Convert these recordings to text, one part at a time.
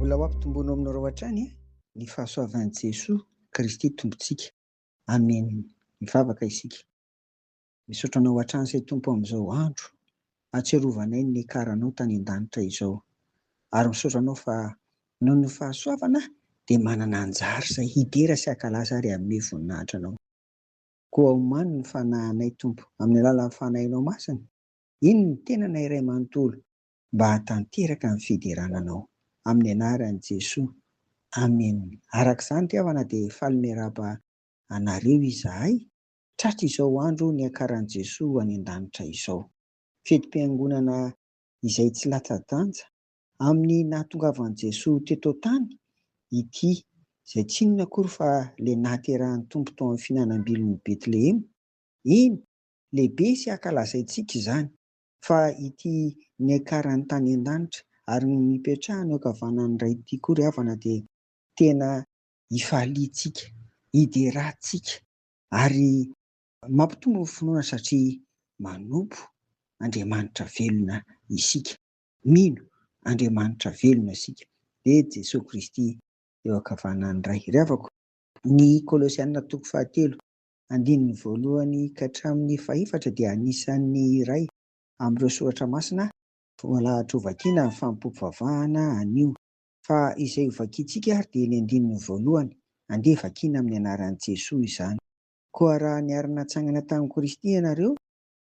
Mbola ho ampitomboinao aminareo hatrany ny fahasoavan'i Jesoa Kristy Tompontsika. Amen. Mivavaka isika. Misaotra Anao hatrany say Tompo amin'izao andro ahatsiarovanay ny niakaranao tany an-danitra izao. Ary misaotra Anao fa noho ny fahasoavana dia manana anjara say hidera sy hakalaza ary hanome voninahitra Anao. Koa omano ny fanahinay, Tompo, amin'ny alalan'ny Fanahinao Masina, iny ny tenanay iray manontolo mba hahatanteraka ny fiderana Anao. Amin'ny Anaran'i Jesoa. Amen. Araka izany ry havana dia faly miarahaba anareo izahay, tratry izao andro niakaran'i Jesoa any an-danitra izao. Fetim-piangonana izay tsy latsa-danja Amin'ny nahatongavan'i Jesoa teto an-tany, ity, izay tsy inona akory fa ilay nahaterahan'ny Tompo tao amin'ny fihinanam-bilin'i Betlehema, eny, lehibe sy ankalazaintsika izany, fa ity niakarany tany an-danitra ary ny nipetrahany eo ankavanan'ny Ray ity koa ry havana dia tena ifaliantsika, iderantsika ary mampitombo ny finoana satria manompo Andriamanitra velona isika. Mino Andriamanitra velona isika, dia Jesoa Kristy eo ankavanan'ny Ray. Ry havako, ny Kolosiana toko fahatelo, andininy voalohany ka hatramin'ny fahefatra dia anisan'ny iray amin'ireo soratra masina voalahatra hovakiana amin'ny fanompoam-pivavahana anio. Fa izay hovakiantsika ary dia ny andininy voalohany, andeha vakiana amin'ny anaran'i Jesoa izany. Koa raha niara-natsangana tamin'i Kristy ianareo,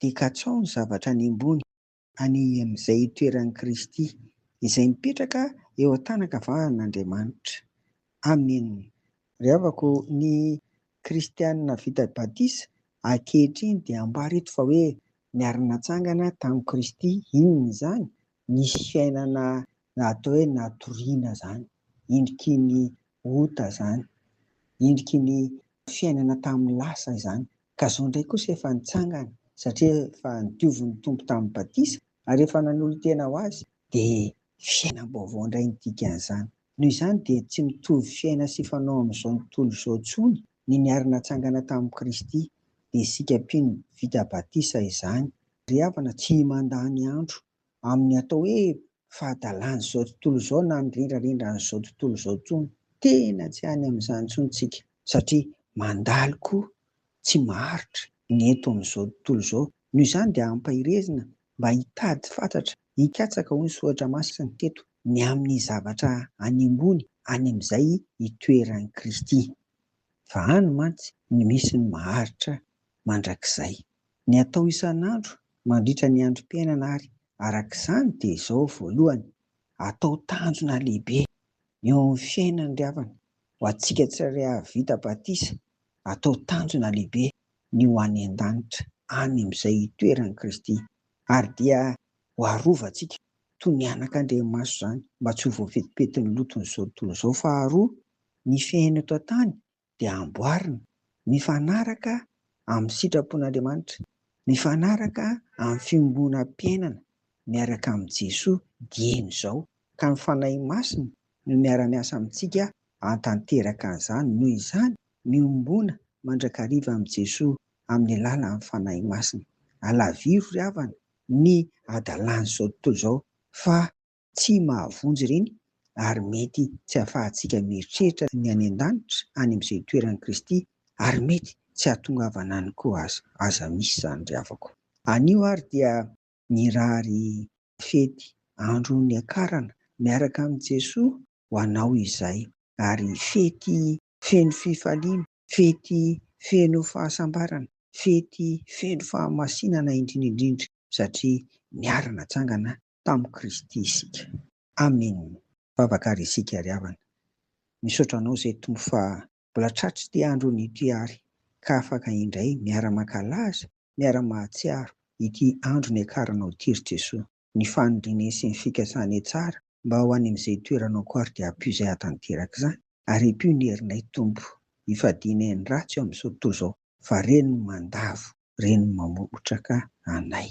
dia katsao ny zavatra any ambony, Any amin'izay itoeran'i Kristy, izay mipetraka eo an-tanan-kavahan'Andriamanitra. Amena. Ry havako, ny Kristiana vita batisa ankehitriny dia ambara eto fa hoe niara-natsangana tamin'i Kristy. Inona izany? Nisy fiainana atao hoe natoriana izany, endriky ny ota izany, endriky ny fiainana tamin'ny lasa izany, Ka zao ndray kosa efa nitsangana satria efa nodiovin'ny Tompo tamin'ny batisa ary efa nanolo-tena ho Azy dia fiainam-baovao ndray ny dikan'izany. Noho izany dia tsy mitovy fiaina sy fanao amin'izao ntontolo izao tsony ny niary natsangana tamin'i Kristy. Dia isika mpino vita batisa izany ry havana tsy mandany andro amin'ny atao hoe fahadalan'izao tontolo izao na ny rendrarendran'izao tontolo izao intsony. Tena tsy any amin'izany intsony isika satria mandalo koa tsy maharitra ny eto amin'izao tontolo izao. Noho izany dia ampaherezina mba hitady fatratra, hikatsaka hoy ny soratra masina teto ny amin'ny zavatra any ambony any amin'izay itoeran'i Kristy. Fa any mantsy no misy ny maharitra mandrakizay. Ny atao isan'andro mandritra ny androm-piainana ary araka izany dia izao, voalohany, atao tanjona lehibe eo amin'ny fiainana ry havana, ho antsika tsirairay hahavita batisa, atao tanjona lehibe ny ho any an-danitra, any amin'izay hitoeran'i Kristy, ary dia ho arovantsika toy ny anak'andriamaso izany mba tsy ho voafetipetin'ny loton'izao tontolo izao, faharoa, ny fiainana eto an-tany dia amboarina mifanaraka amin'ny sitrapon'Andriamanitra, mifanaraka amin'ny fiombonam-piainana miaraka amin'i Jesoa dieny izao, ka ny Fanahy Masina no miara-miasa amintsika hantanteraka an'izany, noho izany miombona mandrakariva amin'i Jesoa amin'ny alalan'ny Fanahy Masina. Alaviro ry havana ny hadalan'izao tontolo izao fa. Tsy mahavonjy ireny ary mety tsy ahafahantsika mieritreritra ny any an-danitra any amin'izay itoeran'i Kristy ary mety tsy hahatongavana any koa aza. Aza misy izany ry havako. Anio ary dia mirary fety andro niakarana miaraka amin'i Jesoa ho anao izay ary fety feno fifaliana, fety feno fahasambarana, fety feno fahamasinana indrindra indrindra satria niara-natsangana tamin'i Kristy isika. Amen vavaka ary isika ry havana misaotra anao zay tompo fa mbola tratry ity andro ny ity ary ka afaka indray miara makalaza miara mahatsiaro ity andro niakaranao ity ry jesoa ny fanindrinay sy ny fikasanay tsara mba ho any amizay toeranao ko ary dia ampio zay atanteraka izany ary ipio ny herinay tompo ifadianay ny ratsy eo amizao tontolo izao fa reny mandavo reny mamotraka anay.